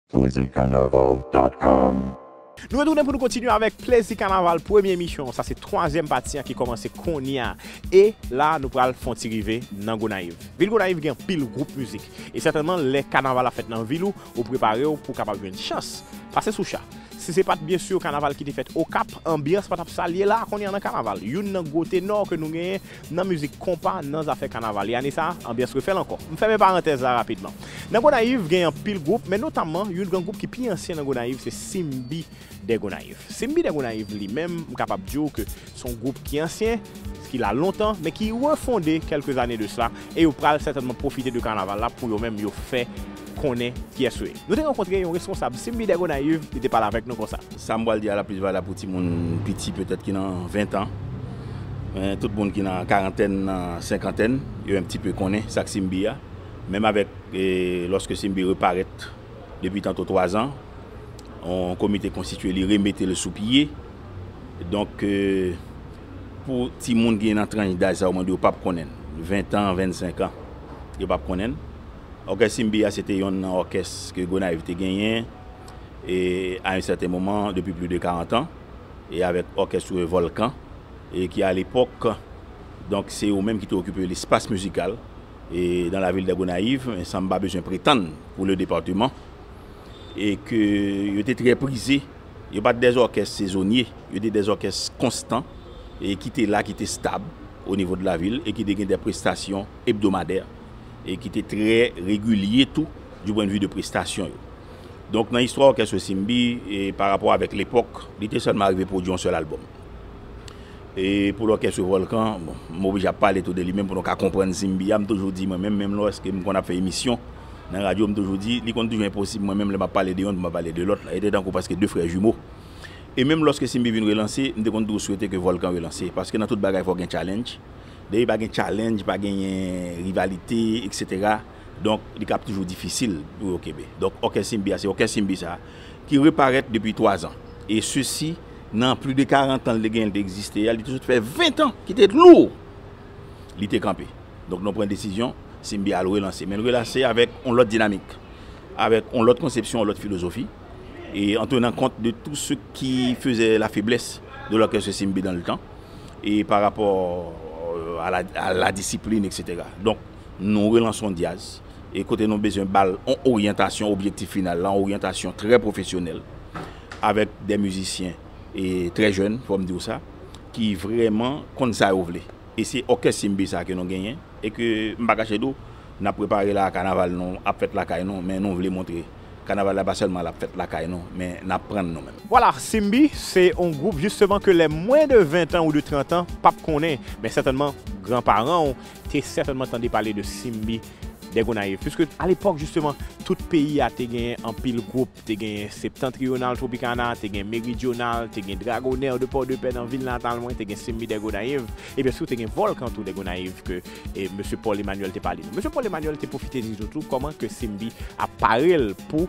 Plezikanaval.com Nou retounen pou nou kontinye avèk Plezi Kanaval premye emisyon sa se twazyèm pati an ki kòmanse konnya e la nou pral fon ti rive nan Gonayiv. Vil Gonayiv gen anpil gwoup mizik e sètènman lè kanaval ap fèt nan vil ou ou prepare w pou w kapab jwenn chans pase sou cha. Si se pat byen sur kanaval ki te fèt Okap anbyans pa tap sa l ye la konnya nan kanaval youn nan gwo tenò ke nou genyen nan mizik konpa nan zafè kanaval e ane sa anbyans refè l ankò. M fèmen parantèz la rapidman. Nan Gonayiv gen anpil gwoup men notamman youn gran gwoup ki pi ansyen nan Gonayiv se Simbi dè Gonayiv. Simbi dè Gonayiv li menm m kapab di w ke s on gwoup ki ansyen, ki la lontan men ki refonde kèlke zane de sla e yo pral sètènman pwofite de kanaval la pou yo menm yo fè konnen kiyès ou ye. Nou te rankontre yon responsab Simbi Dè Gonayiv, li te pale avèk nou konsa. Sa m pral di a la plis valab pou timoun piti petèt ki nan ventan, men tout moun ki nan karantèn, nan senkantèn, yo en pti pe konnen sa k Simbi a. Menm avèk lòske Simbi reparèt depi tanto twazan, yon komite konstitye li remete l sou pye. Donk pou timoun ki nan tranch daj sa yo mwen di yo pap konnen l. Ventan, vennsenkan, yo pap konnen l. Òkès Simbi a se te yonn nan òkès ke Gonayiv te genyen e a yon sèten moman depi pli de 40 an e avèk òkès Revolcan e ki a lepòk donk se yo menm ki te okipe lespas mizikal e dan lavil dè Gonayiv e san m pa bezwen pretann pou le departeman e ke yo te trè prize yo pa t dè òkès sezonye yo te dè òkès konstan e ki te la ki te stab o nivo de lavil e ki te gen dè prestasyon ebdomadè. e ki te trè regilye tou du pwen de vi de prestasyon yo. Donk nan istwa òkès Osimbi e pa rapò avèk lepòk, li te sèlman arive pwodui yon sèl albòm. E pou lòkès yo Vòlkan, bon, m oblije ap pale tou de li menm pou nou ka konprann Simbi a, m toujou di mwen menm, menm lòske m konn ap fè emisyon nan radyo, m toujou di, li konn toujou enposib mwen menm lè m ap pale de yonn pou m pa pale de lòt, e te tankou prèske de frè jimo. E menm lòske Simbi vin relanse, m te konn toujou swete ke Vòlkan relanse, paske nan tout bagay fò gen challenge, Depi pa gen challenge, pa genyen rivalite etc. Donk li kab toujou difisil pou yo kenbe. Donk òkès Inbi a se òkès Inbi sa a ki reparèt depi 3 zan. E sesi nan pli de 40 tan li te genyen li te egziste a, li te sot fè 20 tan ki te lou li te kanpe. Donk nou pran desizyon se Inbi a al relanse. Men l relanse avèk yon lòt dinamik, avèk yon lòt konsepsyon, yon lòt filozofi e an tenan kont de tou se ki fezè la feblès de lòkès Inbi dan le tan. e pa rapò a la disiplin eksetera donk nou relanson Diaz e kote nou bezwen bal on oryantasyon objektif final la on oryantasyon trè pwofesyonèl avèk dè mizisyen e trè jèn fòm diw sa ki vrèman konn sa yo vle e se òkès simbi sa ke nou genyen e ke m pa kache diw nap prepare la kanaval nou ap fèt lakay nou men nou vle montre. Kanaval la pa selman lap fèt lakay nou men nap prann nou menm. Vwala, Simbi se on gwoup jisteman ke lè mwen de 20 tan ou de 30 tan pap konnen men sètènman gran paran ou te sètènman tande pale de Simbi dè Gonayiv puiske a lepòk jisteman tout peyi a te genyen anpil gwoup te genyen Septentrional Tropicana te gen Meridional te gen Dragoner de Pòdepè nan vil natal mwen te gen Simbi dè Gonayiv Ebyen si ou te gen volkan tou de Gonayiv ke mesye Paul Emmanuel te pale nou. Mesye Paul Emmanuel te pwofite di nou tou koman ke Simbi ap pare l pou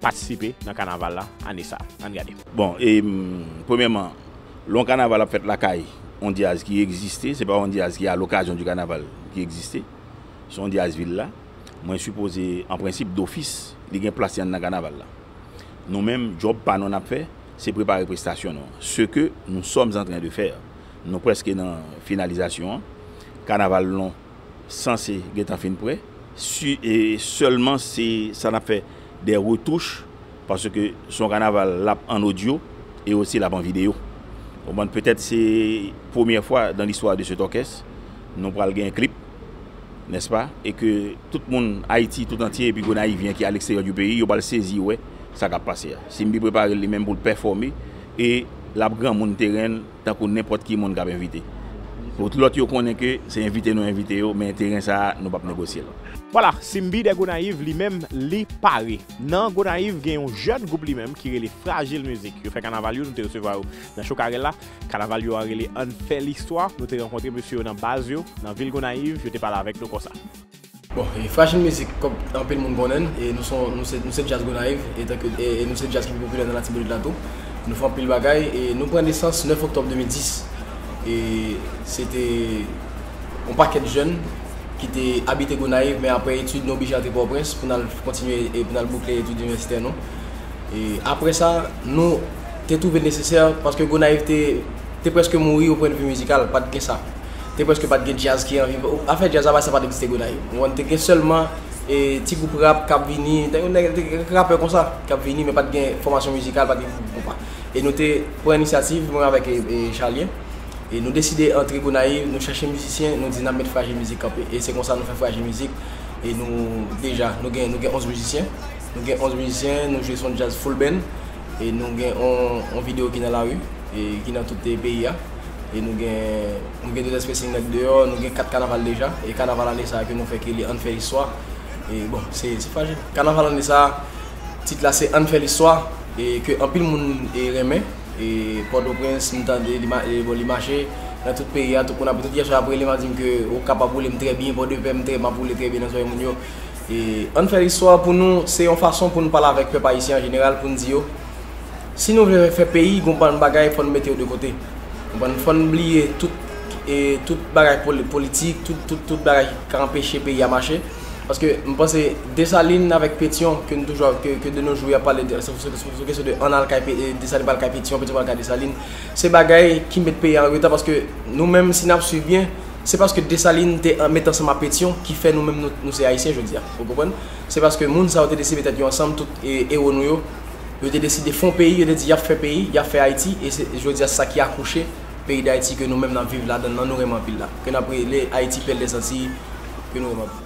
patisipe nan kanaval la ane sa. Ann gade. Bon, premyèman, lè yon kanaval ap fèt lakay yon dyaz ki egziste, se pa yon dyaz ki a lokazyon di kanaval ki egziste, se yon dyaz vil la, mwen sipoze an prensip dofis li gen plas li anndan kanaval la. Nou menm, djòb pa nou n ap fè, se prepare prestasyon nou an, se ke nou sòm antren de fè. Nou prèske nan finalizasyon an. Kanaval nou sanse gentan fin prè. Si e sèlman se sa n ap fè dè retouch paske se yon kanaval l ap an odyo e osi l ap an videyo. Ou konprann? Petèt se premyè fwa dan listwa de cet orkès nou pral gen klip, nèspa? E ke tout moun Ayiti tout antye epi Gonayivyen ki aleksteryè di peyi yo pral sezi wè sa k ap pase a. Simbi prepare l li menm pou l pèfòme. E l ap granmoun teren l tankou nenpòt ki moun k ap envite. Pou lòt yo konnen ke se envite nou envite yo men teren sa a nou p ap negosye l. Vwala, Simbi dè Gonayiv li menm li pare. Nan Gonayiv gen yon jèn gwoup li menm ki rele Frajil Mizik. Yo fè kanaval yo, nou te resevwa yo nan Chokarel la. Kanaval yo a rele Ann fè listwa. Nou te rankontre mesye yo nan baz yo nan vil Gonayiv, yo te pale avèk nou konsa. Bon, e Frajil Mizik, kòm anpil moun konnen n, e nou se yon, nou se, nou se djaz Gonayiv, e tanke, e nou se djaz ki pi popilè nan Latibonit la tou. Nou fè anpil bagay, e nou pran nesans 9 oktòb 2010. E se te yon pakèt jèn ki te abite Gonayiv, men apre etid nou oblije antre Pòtoprens pou n al kontinye e pou n al boukle etid inivèsitè nou. E apre sa, nou te twouve l nesesè, paske Gonayiv te, te prèske mouri o pwennvi mizikal, pa t gen sa. te preske pat gen djaz ki anvi afè djaz avay sa pat egziste Gonayiv ou konprann te gen sèlman ti gwoup rap kap vini te gen kèk rapè konsa kap vini men pat gen fòmasyon mizikal pat gen gwoup konpa e nou te pran inisyativ mwen avèk Charlien e nou deside antre Gonayiv nou chèche mizisyen nou di nap met Frajil Mizik kanpe e se konsa nou fè Frajil Mizik e nou deja nou gen 11 mizisyen nou gen 11 mizisyen nou jwe son djaz full band. E nou gen yon video ki nan lari, ki nan tout peyi a. E nou gen nou gen 2 èspè si nèg deyò, nou gen 4 kanaval deja. E kanaval ane sa ke nou fè ki rele Ann fè istwa. E bon, se frajil. Kanaval ane sa, tit la se Ann fè listwa. E ke anpil moun renmen. E Pòtoprens m tande li ma bon li mache nan tout peyi a. Tout moun ap tout kèchè ap rele m ap di m ke Okap ap woule m trè byen, Pòdepè m trè m ap woule trè byen nan zòrèy moun yo. E Ann fè istwa pou nou se yon fason pou n pale avèk pèp ayisyen an jeneral pou n di yo si nou vle fè peyi gon bann bagay fò n mete yo de kote konprann fò n bliye tout e tout bagay politik tout tout tout bagay ki ka anpeche peyi a mache paske m panse Desalin avèk Petyon ke n toujou ap ke de no jou y ap pale de sou kesyon de ann al kay Desalin pral kay Petyon Petyon pral kay Desalin se bagay ki met peyi a an reta paske nou menm si n ap swiv byen. Se paske Desalin te met ansanm a Petyon ki fè nou menm nou se Ayisyen jodi a. Ou konprann? Se paske moun sa yo te deside met tèt yo ansanm, tout ewo nou yo, yo te deside fon peyi, yo te di y ap fè peyi, y ap fè Ayiti, e se jodi a se sa ki akouche peyi Dayiti ke nou menm n ap viv ladann lan, nou renmen anpil la. Ke n ap rele Ayiti pèl dè Zantiy, ke nou renmen anpil.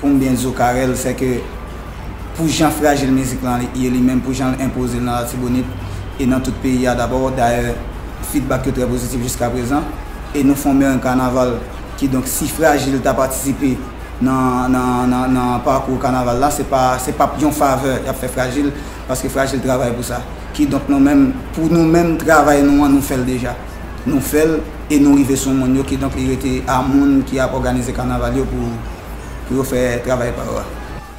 Konbyen zo Carel fè ke pou jan frajil mizik lan ye li menm, pou jan l enpoze l nan Latibonit e nan tout peyi a dabò, dayè fidbak yo trè pozitif jiskaprezan e nou fon merenng kanaval kidonk si frajil ta patisipe nan pakou kanaval la se pa se pap yon favè y ap fè frajil paske frajil travay pou sa kidonk nou menm pou nou menm travay nou an nou fè l deja. Nou fè l e nou rive sou moun yo kidonk li rete a moun ki ap òganize kanaval yo pou pou yo fè travay pa yo a.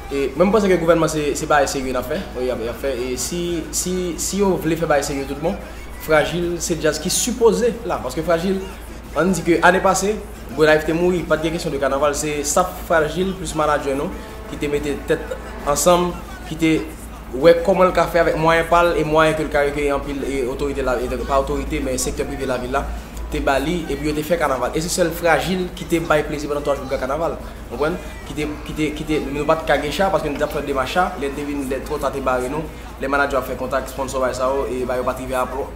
Mwen m panse ke gouvènman se se bagay serye n ap fè y ap y ap fè e si si si yo vle fè bagay serye tout bon Frajil se djaz ki sipoze la paske Frajil an n di ke ane pase Gonayiv te mouri pa t gen kesyon de kanaval se staf Frajil plis manadjè nou ki te mete tèt ansanm ki te wè kòman l ka fè avèk mwayen pa l e mwayen ke l ka rekeye anpil otorite la pa otorite men sektè prive lavil la te ba li epi yo te fè kanaval e se sèl frajil ki te bay plezi pandan 3 jou gran kanaval konprann ki te ki te ki te nou pa t ka gen cha paske nou te ap fè demach cha lè l te vin lè twò ta te bare nou lè manadjè w ap fè kontak sponsò bay sa yo e ba yo pa t rive a pwò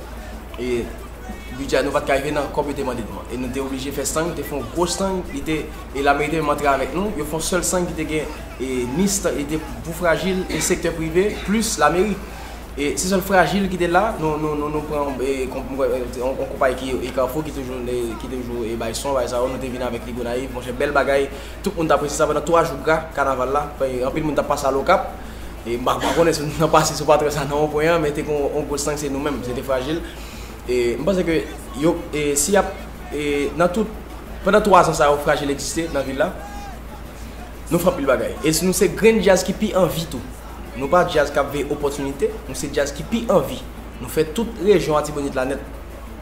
e. Bidjè a nou pat ka rive nan kòb yo te mande nou an e nou te oblije fè sang, te fon gwo sang li te e lameriken menm antre avèk nou, yo fon sèl sang ki te gen e NIST e te pou frajil e sektè prive plis lameri e se sèl frajil ki te la nou nou nou nou pran yon e konp mwen kwè se yon konpayi ki e kafou ki toujou e ki toujou e bay son bay sa yo nou te vin avèk li gonayiv monchè bèl bagay tout moun t apresye sa pandan 3 jou gra kanaval la e anpil moun t ap pase al okap e m pa konnen si nou t nan pase sou patwè sa nan wonpwen an men te gen yon gwo sang se nou menm se te frajil. E m panse ke yo e si y ap e nan tout pandan 3 zan sa yo Frajil egziste nan vil la nou fè anpil bagay. E nou se grenn djaz ki pi an vi tou. Nou pa djaz k ap veye opòtinite, nou se djaz ki pi an vi. Nou fè tout rejyon Atibonit la nèt.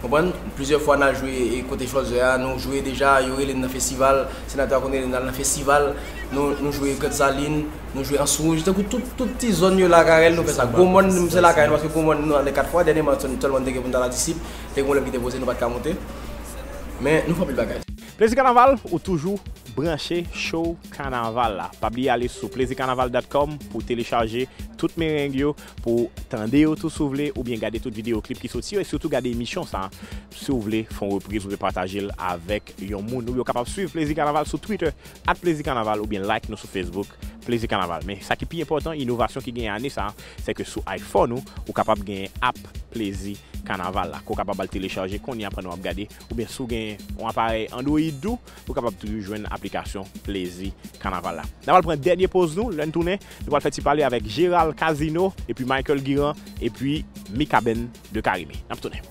Konprann? Plizyè fwa n al jwe e kote Chòzè a, nou jwe deja, yo rele n nan festival, senatè a konn rele n al nan festival, nou nou jwe Gransalin, Nou jwe an Sourouge, tankou tout ti zòn yo lakay el nou fè sa. Gwo mòn nou se lakay nou paske gwo mòn nou ale 4 fwa, dènyeman se nou sèlman nou te gen pou nou ta la disip, te gen pwoblèm ki te poze nou pat ka monte. Men nou fè anpil bagay. Plezi kanaval ou toujou branche show kanaval la pa bliye ale sou plezikanaval dòt kòm pou telechaje tout mereng yo pou tande yo tou si w vle oubyen gade tout videyo klip ki soti yo e sitou gade emisyon sa si w vle fon repriz oubyen pataje l avèk yon moun ou yo kapab swiv plezi kanaval sou twitter Add Plezi Kanaval oubyen like nou sou Facebook Plezi Kanaval. Men sa ki pi enpòtan, inovasyon ki genyen ane sa a, se ke sou iPhone ou, ou kapab genyen app Plezi Kanaval la, ke w kapab al telechaje kounye a pandan w ap gade, oubyen si w gen yon aparèy Android tou, ou kapab toujou jwenn aplikasyon Plezi Kanaval la. N ap al pran dènye poz nou, lè n tounen, nou pral fè ti pale avèk Gérald Casino, epi Michael Guirand, epi Mikaben de Carimi. N ap tounen.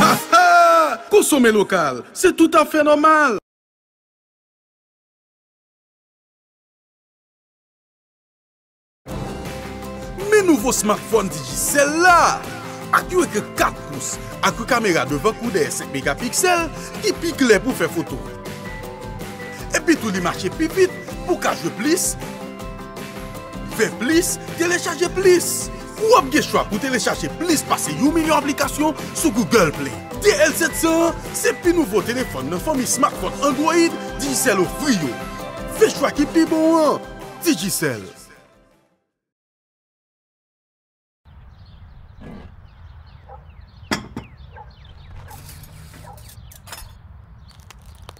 Ha ha! Konsome lokal, se toutafè nòmal! Men nouvo smartphone Digicel la! Ak yon ekran 4 pous ak yon kamera devan kou dèyè 5 megapiksèl ki pi klè pou fè foto. Epitou li mache pi vit pou w ka jwe plis, fè plis, telechaje plis. Ou ap gen chwa pou telechaje plis pase yon milyon aplikasyon sou Google Play. DL700 an se pi nouvo telefòn nan fanmi smartphone Android Digicel ofri yo. Fè chwa ki pi bon an! Digicel.